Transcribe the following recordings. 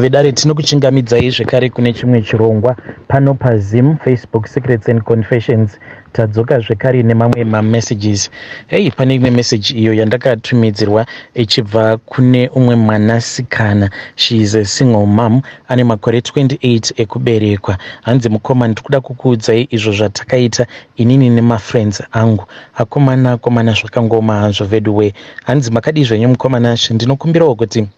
Vedare tinokuchingamidzai zvekare kune chimwe chirongwa pano paZim Facebook Secrets and Confessions. Tadzoka zvekare nemamwe mamessages. Hei, pane imwe message iyo yandakatumidzirwa ichibva kune umwe mwanasikana. She is a single mom ane makore 28 ekuberekwa. Hanzi mukoma, ndikuda kukuudzai izvo zvatakaita inini nemafriends angu. Akomana komana zvakangooma hazvo veduwee. Hanzi makadii zvenyu mukoma Nashe? Ndinokumbirawo kuti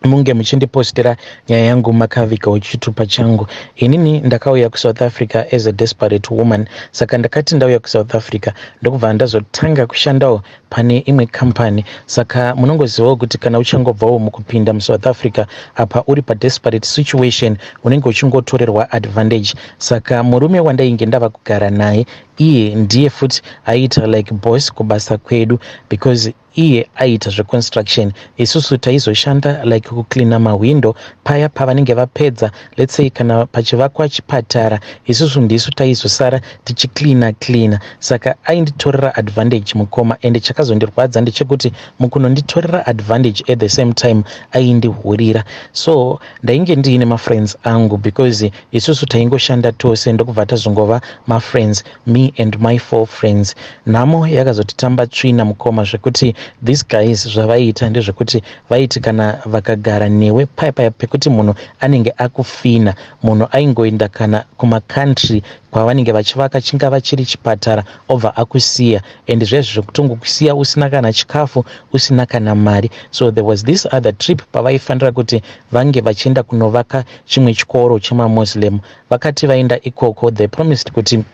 munge muchindipostira nyaya yangu makavigawo chitupa changu inini ndakauya kusouth africa as a desperate woman saka ndakati ndauya kusouth africa ndokubva ndazotanga kushandawo pane imwe company saka munongozivawo kuti kana uchangobvawo mukupinda musouth africa apa uri padesperate situation unenge uchingotorerwa advantage saka murume wandainge ndava kugara naye iye ndiye futi aiita like boss kubasa kwedu because iye aiita zveconstruction isusu taizoshanda like kucleana mahwindo paya pavanenge vapedza let's say kana pachivakwa chipatara isusu ndisu taizosara tichicleana cleana saka ainditorera advantage mukoma ende chakazondirwadza ndechekuti mukunonditorera advantage at the same time aindihurira so ndainge ndiine mafriends angu because isusu taingoshanda tose ndokubva tazongova mafriends me and my four friends nhamo yakazotitamba tsvina mukoma zvekuti these guys zvavaiita ndezvekuti vaiti kana vakagara newe paya paya pekuti munhu anenge akufina munhu aingoenda kana kumacountry kwavanenge vachivaka chingava chiri chipatara obva akusiya and zvezvi zvekutongokusiya usina kana chikafu usina kana mari so there was this other trip pavaifanira kuti vange vachienda kunovaka chimwe chikoro chemamuslim Vakati vaenda ikoko they promised kuti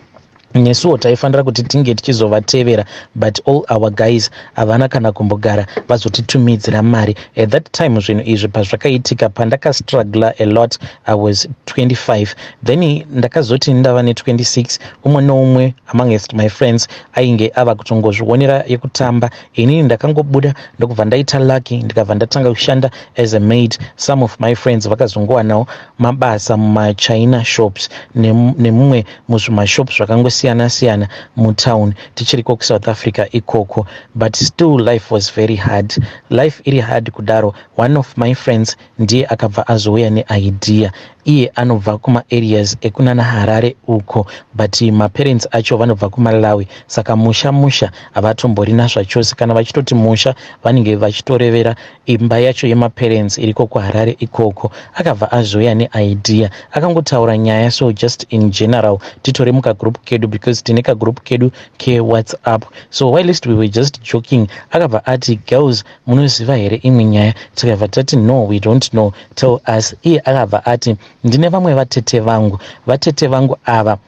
nesuwo taifanira kuti tinge tichizovatevera but all our guys havana kana kumbogara vazotitumidzira mari at that time zvinhu izvi pazvakaitika pandakastruggler a lot i was 25 then ndakazoti ndava ne26 umwe noumwe amongst my friends ainge ava kutongozvionera yekutamba inini ndakangobuda ndokubva ndaita lucky ndikabva ndatanga kushanda as a maid some of my friends vakazongowanawo mabasa mumachina shops nemumwe muzvimashop zvakangosiyana siyana mutown tichiriko kusouth africa ikoko but still life was very hard life iri hard kudaro one of my friends ndiye akabva azouya neidea iye anobva kumaareas ekunana harare uko but maparents acho vanobva kumalawi saka musha musha havatomborina zvachose kana vachitoti musha vanenge vachitorevera Imba yacho yemaparents iriko kuHarare ikoko. Akabva azouya neidea. Akangotaura nyaya so just in general titore mukagroup kedu because tine kagroup kedu keWhatsApp. So whilst we were just joking akabva ati girls munoziva here imwe nyaya tikabva tati no we don't know tell us. Iye akabva ati ndine vamwe vatete vangu. Vatete vangu ava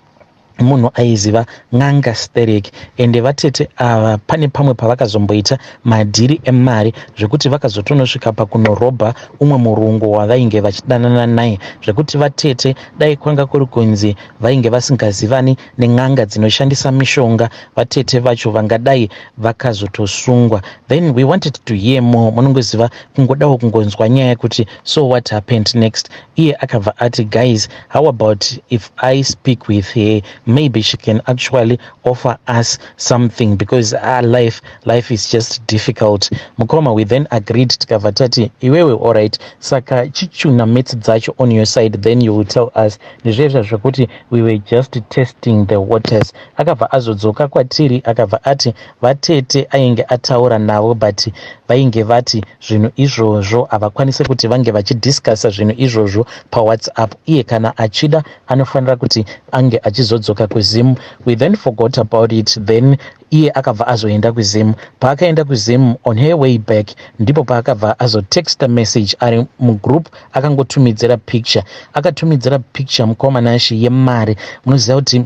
munhu aiziva n'anga sterek ende vatete ava pane pamwe pavakazomboita madhiri emari zvekuti vakazotonosvika pakunorobha umwe murungu wavainge vachidanana naye zvekuti vatete dai kwanga kuri kunzi vainge vasingazivani nen'anga dzinoshandisa mishonga vatete vacho vangadai vakazotosungwa then we wanted to hear more munongoziva kungodawo kungonzwa nyaya kuti so what happened next iye akabva ati guys how about if i speak with her maybe she can actually offer us something because our ah, life life is just difficult mukoma we then agreed tikabva tati iwewe allright saka chichuna mats dzacho on your side then you will tell us ndizvezva zvekuti we were just testing the waters akabva azodzoka kwatiri akabva ati Vatete ainge ataura navo but vainge vati zvinhu izvozvo havakwanise kuti vange vachidiscussa zvinhu izvozvo pawhatsapp iye kana achida anofanira kuti ange achizodzoka kuzim we then forgot about it then iye akabva azoenda kuzim paakaenda kuzim on her way back ndipo paakabva azotexta message ari mugroup akangotumidzira picture akatumidzira picture mukoma nashi yemari munoziva kuti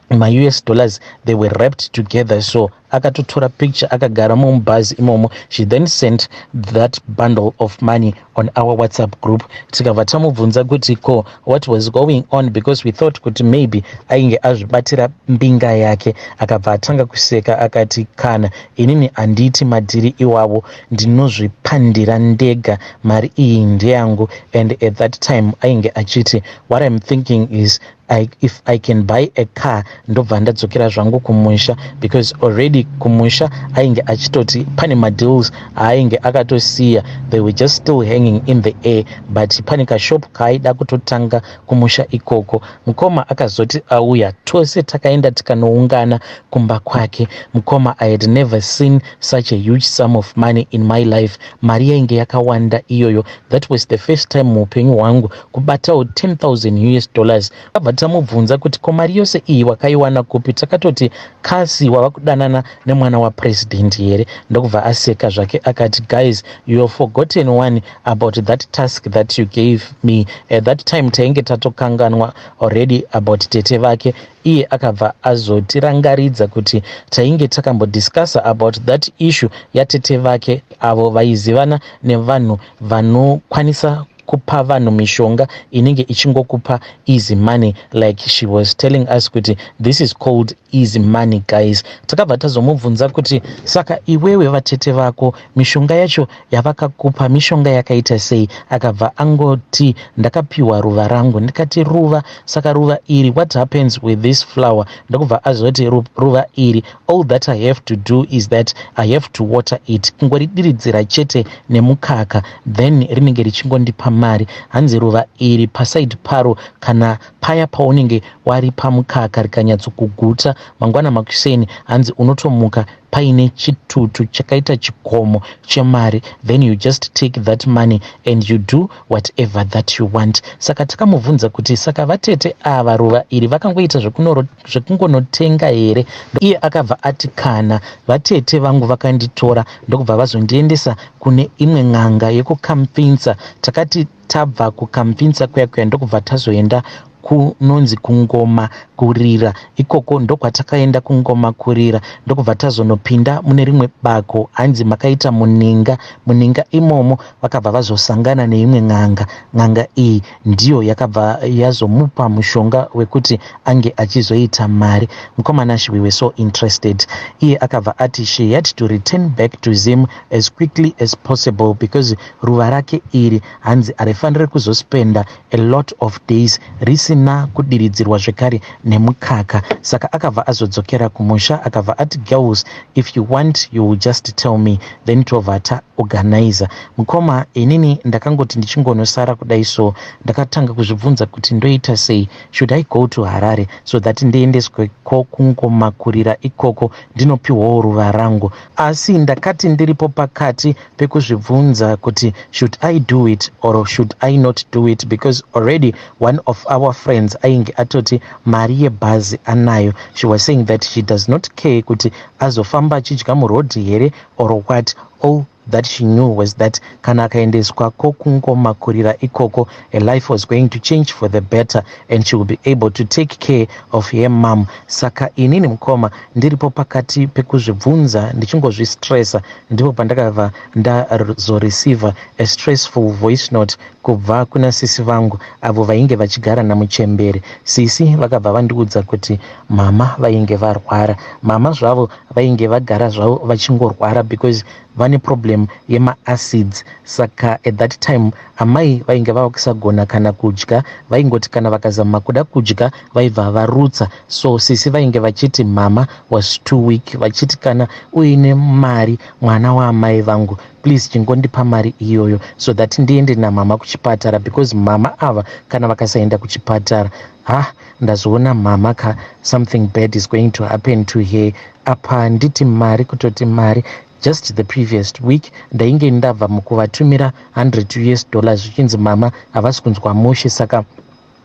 maus dollars they were wrapped together so akatotora picture akagara mumubhazi imomo she then sent that bundle of money on our whatsapp group tikabva tamubvunza kuti ko what was going on because we thought kuti maybe ainge azvibatira mbinga yake akabva atanga kuseka akati kana inini handiiti madhiri iwavo ndinozvipandira ndega mari iyi ndeyangu and at that time ainge achiti what im thinking is I, if i can buy a car ndobva ndadzokera zvangu kumusha because already kumusha ainge achitoti pane madeals aainge akatosiya they were just still hanging in the air but pane kashop kaaida kutotanga kumusha ikoko mukoma akazoti auya tose takaenda tikanoungana kumba kwake mukoma i had never seen such a huge sum of money in my life mari yainge yakawanda iyoyo that was the first time muupenyu hwangu kubatawo 10000 us dollars tabva tamubvunza kuti ko mari yose iyi wakaiwana kupi takatoti kasi wava kudanana nemwana wapresident here ndokubva aseka zvake akati guys you have forgotten one about that task that you gave me at that time tainge tatokanganwa already about tete vake iye akabva azotirangaridza kuti tainge takambodiscussa about that issue yatete vake avo vaizivana nevanhu vanokwanisa kupa vanhu mishonga inenge ichingokupa easy money like she was telling us kuti this is called easy money guys takabva tazomubvunza kuti saka iwewe vatete vako mishonga yacho yavakakupa mishonga yakaita sei akabva angoti ndakapiwa ruva rangu ndikati ruva saka ruva iri what happens with this flower ndokubva azoti ruva iri All that I have to do is that I have to water it, kungoridiridzira chete nemukaka then rinenge richingondipa mari. Hanzi ruva iri paside paro kana paya paunenge waripa mukaka rikanyatsokuguta mangwana makuseni, hanzi unotomuka paine chitutu chakaita chikomo chemari then you just take that money and you do whatever that you want. Saka takamubvunza kuti saka vatete ava ruva iri vakangoita zvekunoro zvekungonotenga here iye akabva ati kana vatete vangu vakanditora ndokubva vazondiendesa kune imwe n'anga yekukampfinsa takati tabva kukampfinsa kuya kuya ndokubva tazoenda kunonzi kungoma kurira ikoko ndokwatakaenda kungoma kurira ndokubva tazonopinda mune rimwe bako hanzi makaita muninga muninga imomo vakabva vazosangana neimwe n'anga n'anga iyi ndiyo yakabva yazomupa mushonga wekuti ange achizoita mari mukoma Nash we were so interested iye akabva ati she had to return back to Zim as quickly as possible because ruva rake iri hanzi arifanire kuzospenda a lot of days risina kudiridzirwa zvekare nemukaka saka akabva azodzokera kumusha akabva ati girls if you want you will just tell me then tobva ta organizer mukoma inini ndakangoti ndichingonosara kudai so ndakatanga kuzvibvunza kuti ndoita sei should i go to harare so that ndiendeswe ko kungomakurira ikoko ndinopiwawo ruva rangu asi ndakati ndiripo pakati pekuzvibvunza kuti should i do it or should i not do it because already one of our friends ainge atoti mari yebhazi anayo she was saying that she does not care kuti azofamba achidya muroad here or what all that she knew was that kana akaendeswa kokungomakurira ikoko a life was going to change for the better and she will be able to take care of her mom saka inini mukoma ndiripo pakati pekuzvibvunza ndichingozvistressa ndipo pandakabva ndazoreceiver a stressful voice note Kubva kuna sisi vangu avo vainge vachigara namuchembere. Sisi vakabva vandiudza kuti mama vainge varwara. Mama zvavo vainge vagara zvavo vachingorwara because vane problem yemaacids saka at that time amai vainge vava kusagona kana kudya vaingoti kana vakazama kuda kudya vaibva varutsa so sisi vainge vachiti mama was too weak vachiti kana uine mari mwana waamai vangu please chingondipa mari iyoyo so that ndiende namama kuchipatara because mama ava kana vakasaenda kuchipatara ha ndazoona mama ka something bad is going to happen to her apa nditi mari kutoti mari just the previous week ndainge ndabva mukuvatumira 100 us dollars zvichinzi mama havasi kunzwa mushe saka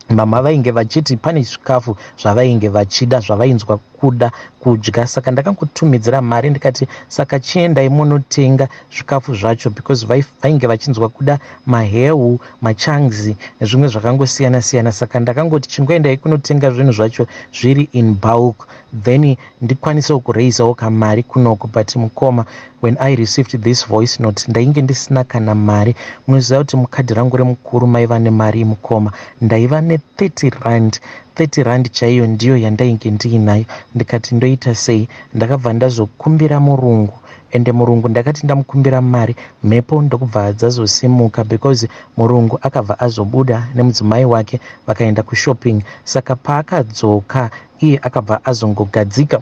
Mhamha vainge vachiti pane zvikafu zvavainge vachida zvavainzwa kuda kudya saka ndakangotumidzira mari ndikati saka chiendai monotenga zvikafu zvacho because vainge vachinzwa kuda mahewu machangs nezvimwe zvakangosiyana siyana saka ndakangoti chingoendai kunotenga zvinhu zvacho zviri in bulk then ndikwanisewo kuraisawo kamari kunoku but mukoma when i received this voice note ndainge ndisina kana mari munoziva kuti mukadhi rangu remukuru maiva nemari mukoma ndaiva ne 30 rand 30 rand chaiyo ndiyo yandainge ndiinayo ndikati ndoita sei ndakabva ndazokumbira murungu ende murungu ndakati ndamukumbira mari mhepo ndokubva dzazosimuka because murungu akabva azobuda nemudzimai wake vakaenda kushopping saka paakadzoka iye akabva azongogadzika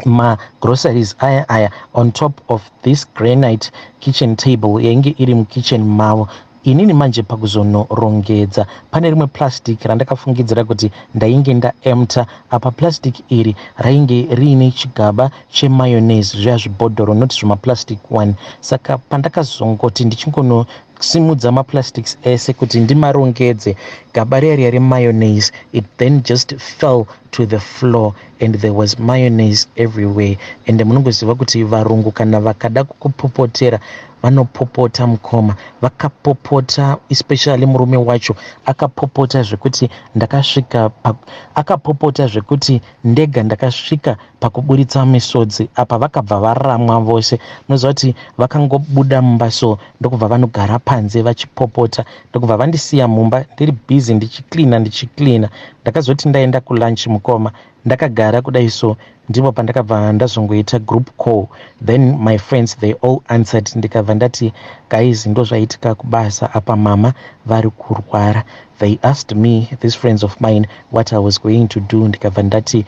magroceries aya aya on top of this granite kitchen table yainge iri mukitchen mavo inini manje pakuzonorongedza pane rimwe plastic randakafungidzira kuti ndainge ndaemta apa plastic iri rainge riine chigaba chemayonese zviya zvibhodhoro not zvimaplastic one saka pandakazongoti ndichingono Simudza maplastics ese kuti ndimarongedze. Gaba riya riya remayonnaise it then just fell to the floor and there was mayonnaise everywhere and munongoziva kuti varungu kana vakada kukupopotera vanopopota mukoma vakapopota especially murume wacho akapopota zvekuti ndakasvika akapopota zvekuti ndega ndakasvika pakuburitsa misodzi apa vakabva varamwa vose munoziva kuti vakangobuda mumba so ndokubva vanogara panze vachipopota ndokubva vandisiya mumba ndiri busy ndichicleana ndichicleana ndakazoti ndaenda kulunch mukoma ndakagara kudai so ndipo pandakabva ndazongoita group call then my friends they all answered ndikabva ndati guys ndozvaitika kubasa apa mama vari kurwara They asked me, these friends of mine, what I was going to do ndikabva ndati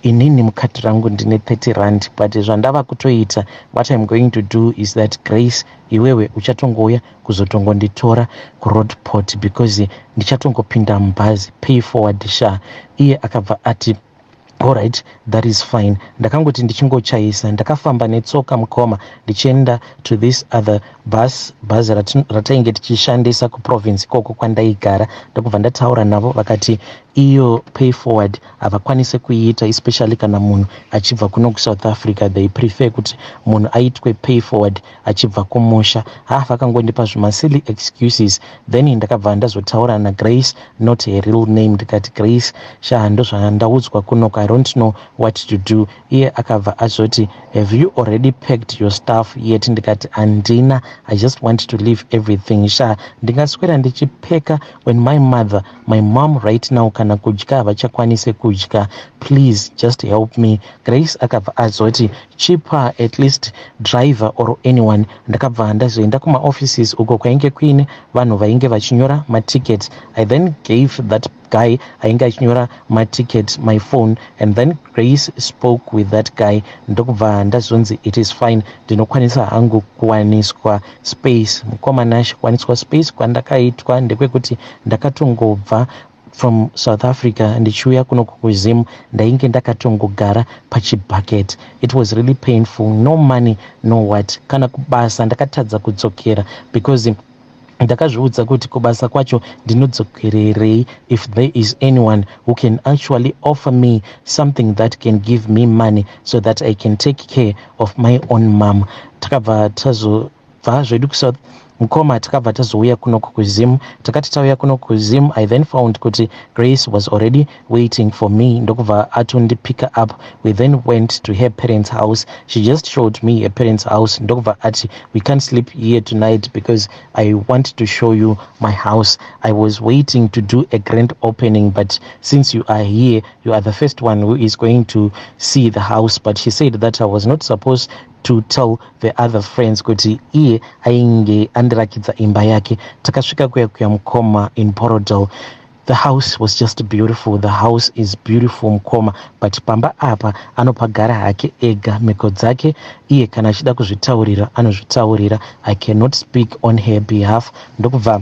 inini mukadhi rangu ndine 30 rand but zvandava kutoita what im going to do is that grace iwewe uchatongouya kuzotongonditora kuroadport because ndichatongopinda mubhazi pay forward sha iye akabva ati Alright, that is fine. Ndakangoti ndichingochayisa ndakafamba netsoka mukoma ndichienda to this other bus bus ratainge tichishandisa kuprovince ikoko kwandaigara ndokubva ndataura navo vakati iyo pay forward havakwanise kuiita especially kana munhu achibva kuno kusouth africa they prefer kuti munhu aitwe pay forward achibva kumusha haa vakangondipa zvima silly excuses then ndakabva ndazotaura na Grace not her real name ndikati Grace shaa ndozvandaudzwa kunoku I don't know what to do iye akabva azoti have you already packed your stuff yet ndikati handina I just want to leave everything shaa ndingaswera ndichipeka when my mother my mom right now kana kudya havachakwanise kudya please just help me grace akabva azoti chipa at least driver or anyone ndakabva ndazoenda kumaoffices uko kwainge kuine vanhu vainge vachinyora maticket i then gave that guy ainge achinyora maticket my phone and then grace spoke with that guy ndokubva ndazonzi it is fine ndinokwanisa hangu kuwaniswa Space mukoma Nashe kwaniswa space kwandakaitwa ndekwekuti ndakatongobva from South Africa ndichiuya kuno kuZim ndainge ndakatongogara pachibucket it was really painful no money no what kana kubasa ndakatadza kudzokera because ndakazviudza kuti kubasa kwacho ndinodzokererei if there is anyone who can actually offer me something that can give me money so that i can take care of my own mom takabva tazobva zvedu kusouth mukoma takabva tazouya kuno kuzim takati tauya kuno kuzim i then found kuti grace was already waiting for me ndokubva atondipicker up we then went to her parents house she just showed me her parents house ndokubva ati we can't sleep here tonight because i want to show you my house i was waiting to do a grand opening but since you are here you are the first one who is going to see the house but she said that i was not supposed to tell the other friends kuti iye ainge andirakidza imba yake takasvika kuya kuya mukoma in porodal the house was just beautiful the house is beautiful mukoma but pamba apa anopagara hake ega mhiko dzake iye kana achida kuzvitaurira anozvitaurira i cannot speak on her behalf ndokubva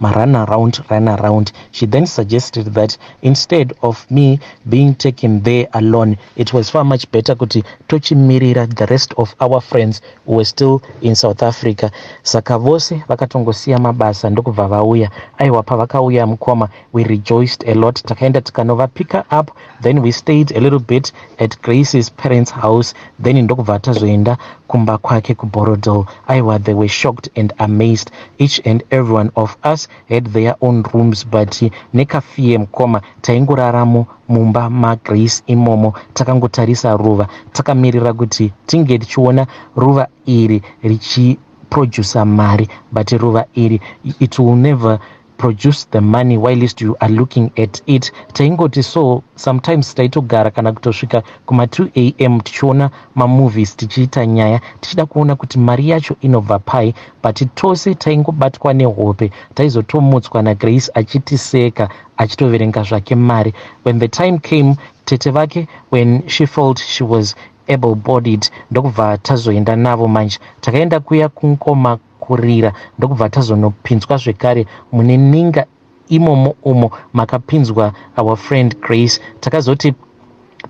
ma run around run around she then suggested that instead of me being taken there alone it was far much better kuti tochimirira the rest of our friends who were still in south africa saka vose vakatongosiya mabasa ndokubva vauya aiwa pavakauya mukoma we rejoiced a lot takaenda tikanovapicker up then we stayed a little bit at grace's parents house then ndokubva tazoenda kumba kwake kuborodel aiwa they were shocked and amazed each and everyone of us had their own rooms but nekafie mukoma taingoraramo mumba magrace imomo takangotarisa ruva takamirira kuti tinge tichiona ruva iri richiproducer mari but ruva iri it will never produce the money whilst you are looking at it taingoti so sometimes taitogara kana kutosvika kuma 2 am tichiona mamovies tichiita nyaya tichida kuona kuti mari yacho inobva pai but tose taingobatwa nehope taizotomutswa nagrace achitiseka achitoverenga zvake mari when the time came tete vake when she felt she was able bodied ndokubva tazoenda navo manje takaenda kuya kunkoma kurira ndokubva tazonopinzwa zvekare mune ninga imomo umo makapinzwa our friend Grace takazoti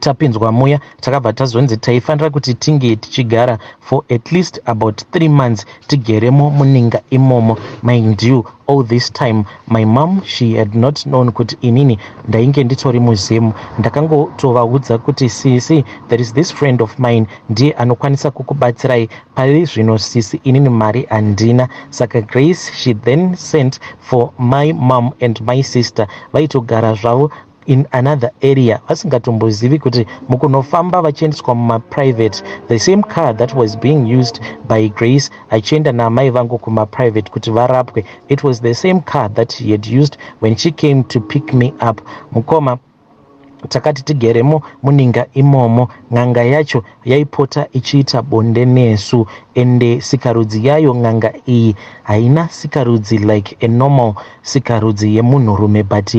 tapinzwa muya takabva tazonzi taifanira kuti tinge tichigara for at least about three months tigeremo muninga imomo mind you all this time my mom she had not known kuti inini ndainge nditori muzim ndakangotovaudza kuti sisi there is this friend of mine ndiye anokwanisa kukubatsirai Pari zvino sisi inini mari handina saka Grace she then sent for my mom and my sister vaitogara zvavo in another area vasingatombozivi kuti mukunofamba vachiendeswa mumaprivate the same car that was being used by grace achienda naamai vangu kumaprivate kuti varapwe it was the same car that he had used when she came to pick me up mukoma Takati tigeremo muninga imomo n'anga yacho yaipota ichiita bonde nesu ende sikarudzi yayo n'anga iyi haina sikarudzi like a normal sikarudzi yemunhurume but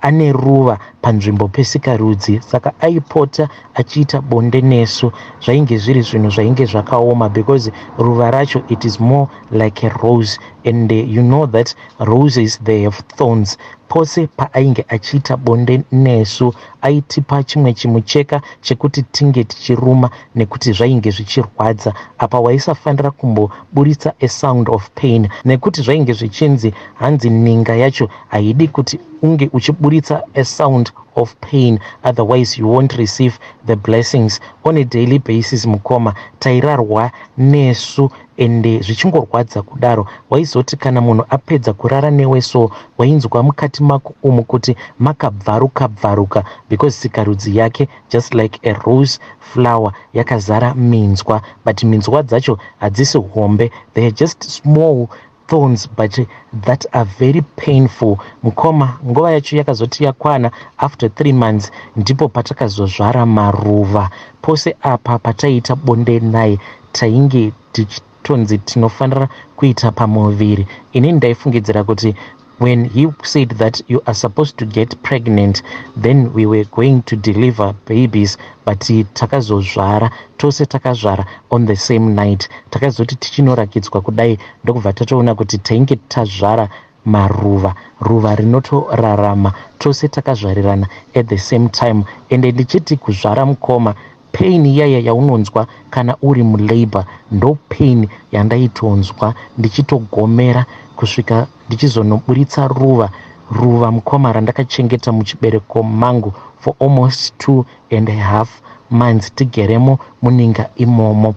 ane ruva panzvimbo pesikarudzi saka aipota achiita bonde nesu zvainge zviri zvinhu zvainge zvakaoma because ruva racho it is more like a rose and you know that Roses they have thorns pose paainge achiita bonde nesu aitipa chimwe chimucheka chekuti tinge tichiruma nekuti zvainge zvichirwadza apa waisafanira kumboburitsa a sound of pain nekuti zvainge zvichinzi hanzi ninga yacho haidi kuti unge uchiburitsa a sound of pain otherwise you won't receive the blessings on a daily basis mukoma tairarwa nesu ende zvichingorwadza kudaro waizoti kana munhu apedza kurara newe so wainzwa mukati mako umu kuti makabvaruka bvaruka because sikarudzi yake just like a rose flower yakazara minzwa but minzwa dzacho hadzisi hombe they're just small thorns but that are very painful mukoma nguva yacho yakazoti yakwana after three months ndipo patakazozvara maruva pose apa pataiita bonde naye tainge tichitonzi tinofanira kuita pamuviri ini ndaifungidzira kuti when he said that you are supposed to get pregnant then we were going to deliver babies but takazozvara tose takazvara on the same night takazoti tichinorakidzwa kudai ndokubva tatoona kuti tainge tazvara maruva ruva rinotorarama tose takazvarirana at the same time ende ndichiti kuzvara mukoma Pain iyaya yaunonzwa kana uri mulabour ndo pain yandaitonzwa ndichitogomera kusvika ndichizonoburitsa ruva. Ruva mukoma randakachengeta muchibereko mangu for almost two and a half months tigeremo muninga imomo.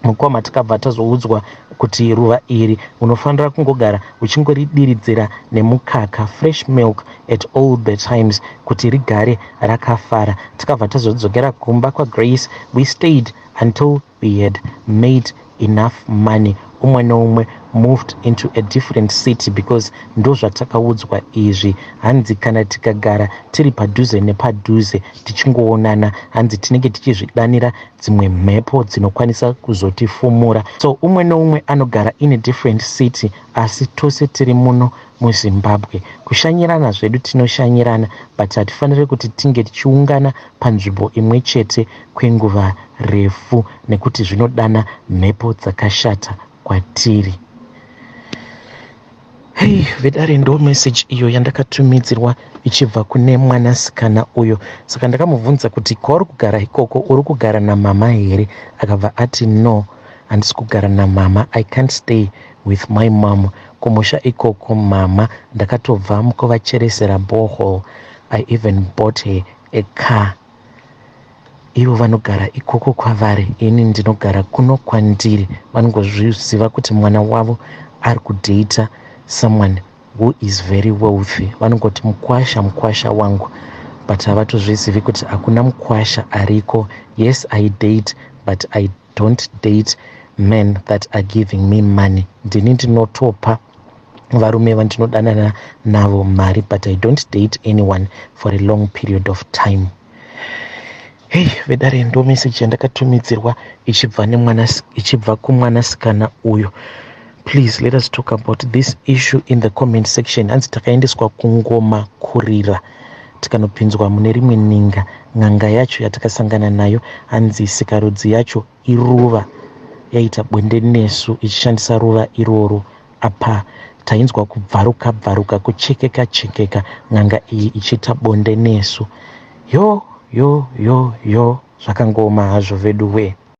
Mukoma takabva tazoudzwa kuti ruva iri unofanira kungogara uchingoridiridzira nemukaka fresh milk at all the times kuti rigare rakafara. Takabva tazodzokera kumba kwaGrace. We stayed until we had made enough money umwe neumwe moved into a different city because ndozvatakaudzwa izvi hanzi kana tikagara tiri padhuze nepadhuze tichingoonana hanzi tinenge tichizvidanira dzimwe mhepo dzinokwanisa kuzotifumura so umwe noumwe anogara in a different city asi tose tiri muno muzimbabwe kushanyirana zvedu tinoshanyirana but hatifanire kuti tinge tichiungana panzvimbo imwe chete kwenguva refu nekuti zvinodana mhepo dzakashata kwatiri Hey, vedare ndo message iyo yandakatumidzirwa ichibva kune mwanasikana uyo saka ndakamubvunza kuti kwauri kugara ikoko uri kugara namama here akabva ati no handisi kugara namama i can't stay with my mom kumusha ikoko mama ndakatobva mukuvacheresera bohol i even bought her a car ivo vanogara ikoko kwavari ini ndinogara kuno kwandiri vanongozviziva kuti mwana wavo ari kudata someone who is very wealthy vanongoti mukwasha mukwasha wangu but havatozvizivi kuti hakuna mukwasha ariko yes i date but i Don't date men that are giving me money ndini ndinotopa varume vandinodanana navo mari but i don't date anyone for a long period of time hei vedare ndo meseji yandakatumidzirwa ichibva nemwana ichibva kumwanasikana uyo please let us talk about this issue in the comment section hanzi takaendeswa kungoma kurira tikanopinzwa mune rimwe ninga n'anga yacho yatakasangana nayo hanzi sikarudzi yacho iruva yaita bwende nesu ichishandisa ruva iroro apa tainzwa kubvaruka bvaruka kuchekeka chekeka n'anga iyi ichiita bonde nesu yo yo yo yo zvakangooma hazvo veduwee